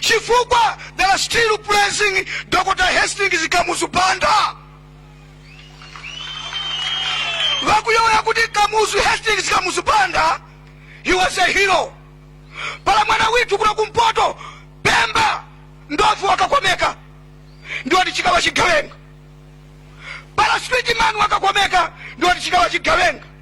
chifukwa they are still praising dr hastings kamuzu banda vakuyoya kuti kamuzu hastings kamuzu banda he was a hero pala mwana withu kuno kumpoto pemba ndofu wakakomeka ndiwati chikawa chigawenga pala street man wakakomeka ndiwati chikawa chigawenga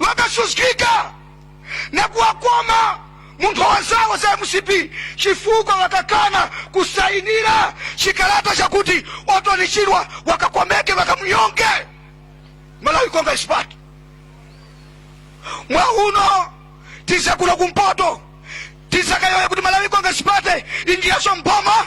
wakasuzgika nakuwakoma munthowa zawo za mcp chifukwa wakakana kusayinira chikalata chakuti Orton Chirwa wakakomeke wakamunyonge malawi congress party mwauno tizakuno kumpoto tizakayoya kuti malawi congress party injireso mboma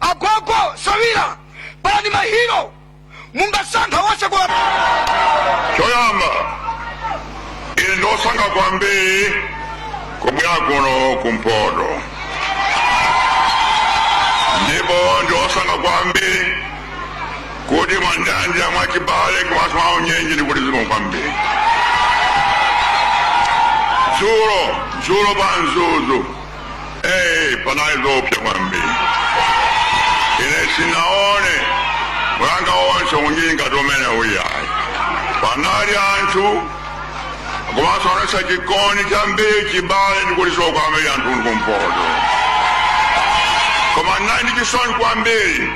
agogo sawira palani mahiro mungasankha wose kwa choyamba ine ndosangalala kwambiri kubwera kuno kumpoto ndipo ndosangalala kwambiri kuti mwandichingamira mwachibale komanso mwaunyinji ndikuti zikomo kwambiri dzulo dzulo pa mzuzu Hey, panali zoopsa kwambiri ine sinaone mwanga onse unyinji ngati omwe uja ayi panali anthu komanso anaonetsa chikondi chambiri chibale ndikuthokoza kwambiri anthu akumpoto koma ndinali ndi chisoni kwambiri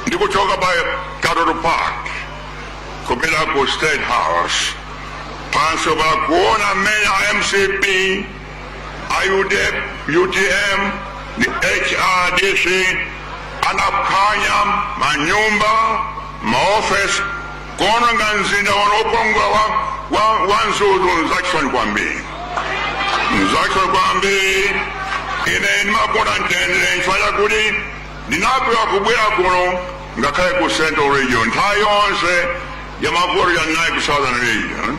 ndikuchoka pa katoto park kupita ku state house pamsewu pakuona mmene a mcp a UTM ndi hrdc anaphwanya manyumba maofesi kuononga mzinda wano wokongola wa, wa, wa Mzuzu nzachisoni kwambiri nzachisoni kwambiri ine ndimakonda mtendere nchifukwa chakuti ndinapewa kubwera kuno ngakhale ku central region nthawi yonse ya mavuto ndinali ku southern region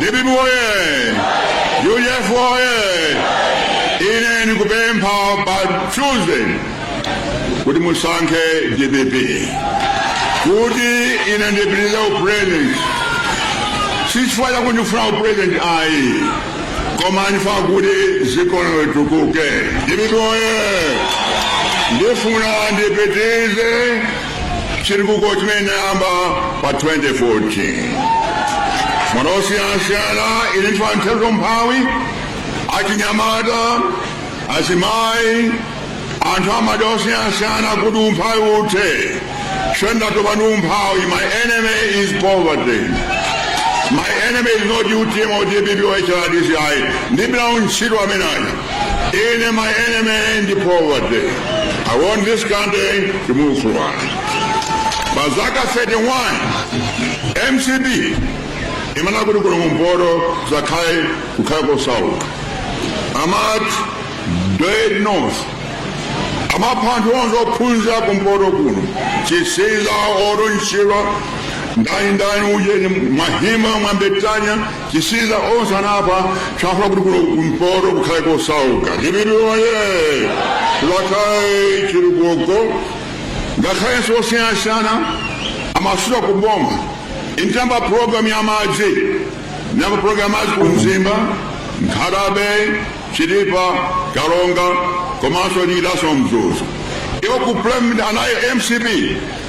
dpp oye udf oye ine ndikupemphani pa tuesday kuti musankhe dpp kuti ine ndipitirize upresident sichifukwa chakuti ndifuna upresident ayi koma ndifuna kuti dziko lino litukuke dpp oye ndifuna ndipitirize chitukuko chimene ndinayamba pa 2014 madera osiyanasiyana ine ndifuna kuthetsa umphawi achinyamata azimayi anthu amadera osiyanasiyana kuti umphawi uthe ine ndatopa ndi umphawi my enemy is poverty my enemy is not utm or dpp or hrdc ayi ndibira untchito imeneyo Ine my enemy ndi poverty. I want this country to move forward. Pa zaka 31 MCP imafuna kuti kuno kumpoto zakhale kukhale kosauka amati dead north amapha anthu onse ophunzira kumpoto kuno Chisiza Orton Chirwa ndani ndani ujeni mahima Mwambetania Chisiza onse anapha chifukwa afuna kuti kuno kumpoto kukhale kosauka chipitiloye chizakhale chitukuko ngakhalenso osiyanasiyana amasuka ku boma ine ndayamba programu ya madzi ndayamba programu ya madzi ku mzimba Nkhata Bay Chitipa Karonga komanso lilaso mzuzu iwo ku plan anayo mcp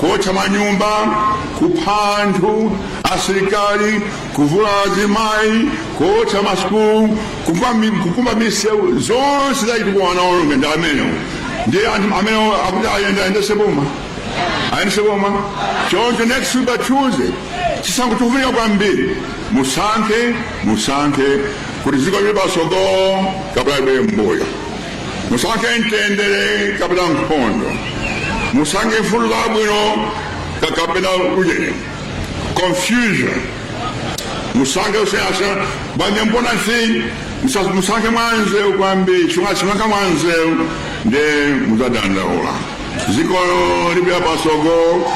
kuotcha manyumba kupha anthu asilikali kuvula azimayi kuotcha masukulu kukumba mi- kukumba misewu zonse zachitukuko anaononga ndi amenewo ndi anthu amene akuti ayenda ayendese boma ayendese boma choncho next week pa tuesday chisankho chikufunika kwambiri musankhe musankhe kuti ziko lipite pasogolo kapena libwere mbuyo musankhe mtendere kapena nkhondo musankhe mfundo zabwino kapena ujeni confusion musankhe usiyanasiyana banja mbona si musa- musankhe mwanzeru kwambiri chifukwa simusankha mwanzeru ndiye muzadandaula ziko lipita pasogolo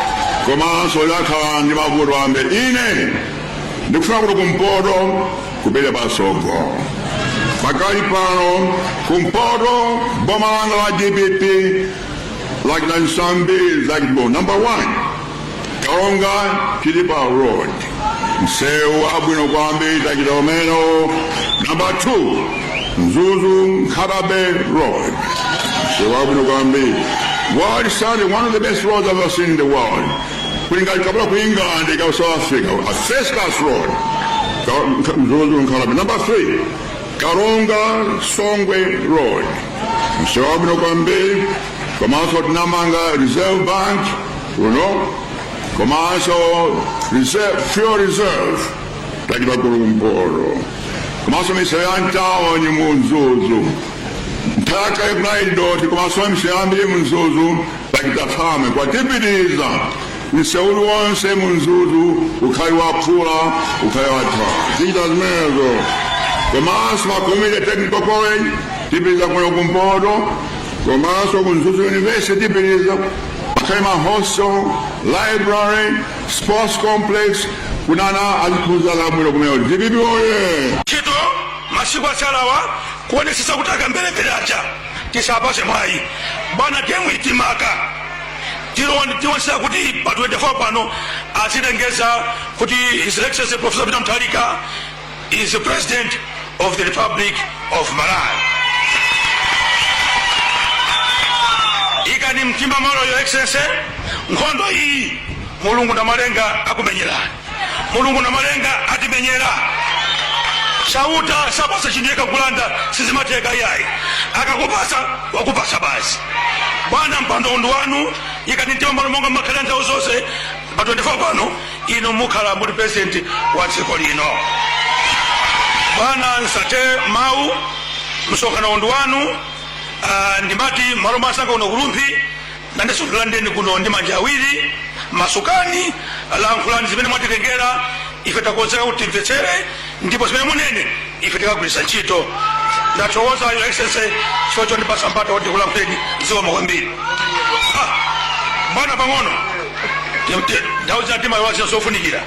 komanso lizakhala ndi mavuto ambiri ine ndikufuna kuti kumpoto kupite patsogolo pakali pano kumpoto boma langa la dpp lachita zambiri zachitukuko namba 1 Karonga Chitipa road msewu wabwino kwambiri tachita umenewo namba 2 mzuzu Nkhata Bay road msewu wabwino kwambiri world standard one of the best roads i've ever seen in the world kulingana kapena ku england ku south africa a first class road Ka- nka- Mzuzu Nkhata Bay number three karonga songwe road msewu wabwino kwambiri komanso tinamanga reserve bank kuno komanso reserve, fuel reserve tachita kuno kumpoto komanso misewu ya mtawoni mu mzuzu nthaka yake kunali dothi komanso misewu yambiri mu mzuzu Sachitakhame kwatipitiriza mseu uliwonse mu Mzuzu ukhale wa phula ukhale watha tichita zimenezo komanso ma community technical college tipitiriza kuno kumpoto komanso ku Mzuzu university tipitiriza akhale ma hostel library sports complex kuti ana aziphunzira zabwino kumene dpp oye ntchito masiku atsalawa kuonetsetsa kuti akamberembere aja tisawapase mwayi bwana gemuyi timaka Tiwon- tiwonesa kuti pa 24 pano azilengeza kuti his excellency professor peter mutharika is the president of the republic of malawi ikani mtima m'malo your excellency nkhondo iyi mulungu namalenga akumenyerani mulungu namalenga atimenyera chauta sapasa chinthu yekha kulanda sizimatheka iyayi akakupasa wakupasa basi bwana mpando uwu ndi wanu ikani mtima m'malo monga mumakhalira nthawi zonse pa 24 pano inu mukhala muli president wa dziko lino bwana nsathe mawu msonkhano uwu ndi wanu ah, ndimati m'malo mwa anzanga kuno ku Rumphi Nanenso ndikulandireni kuno ndi manja awiri. Masukani, lankhulani zimene mwatitengera. Ife takonzeka kuti timvetsere, ndipo zimene munene ife tikagwiritsa ntchito. Ndathokoza, Your Excellency, chifukwa chondipatsa mpata woti ndikulankhuleni. Zikomo kwambiri. Ah, bwana pang'ono ndauza ti mawu aziya zofunikira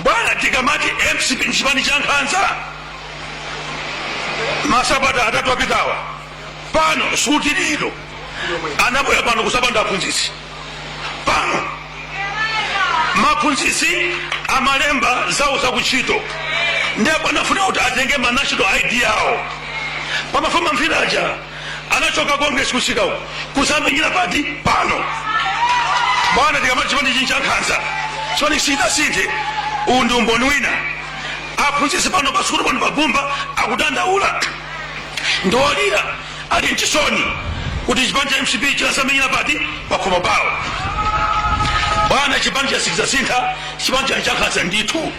bwana tikamati mcp ndi chipani cha nkhanza masabata atatu apitawa pano suti lino anabwera pano kuzawapanda aphunzitsi pano maphunzitsi amalemba zawo zakuntchito ndipo anafuna kuti atenge ma national id awo pamafuma mfiraja anachoka congress kumsikako kuzawamenyera pati pano bwana tikamati chipanichi ndi cha nkhanza chipani sichidasinthe uwu ndi umboni wina aphunzitsi pano pasukulu pano pa Bumba akudandaula ndi olira ali m'chisoni kuti chipani cha mcp chinazawamenyera pati pakhomo pawo bwana chipanicho sichidzasintha chipani chani cha nkhanza ndithu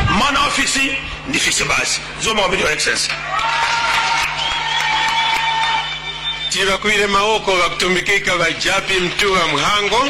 mwana wa fisi ndi fisi basi zikomo kwambiri your excellency tibakuwire mawoko bakutumbikika ba Jappie Mtuwa Mhango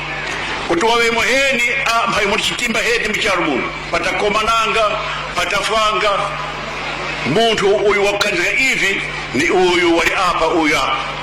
kuti wawe muheni mphanyi muli chitimbaheti mchalo muno patakomananga patafwanga munthu uyu wakukanizga ivi ni uyu wali apa uyu apa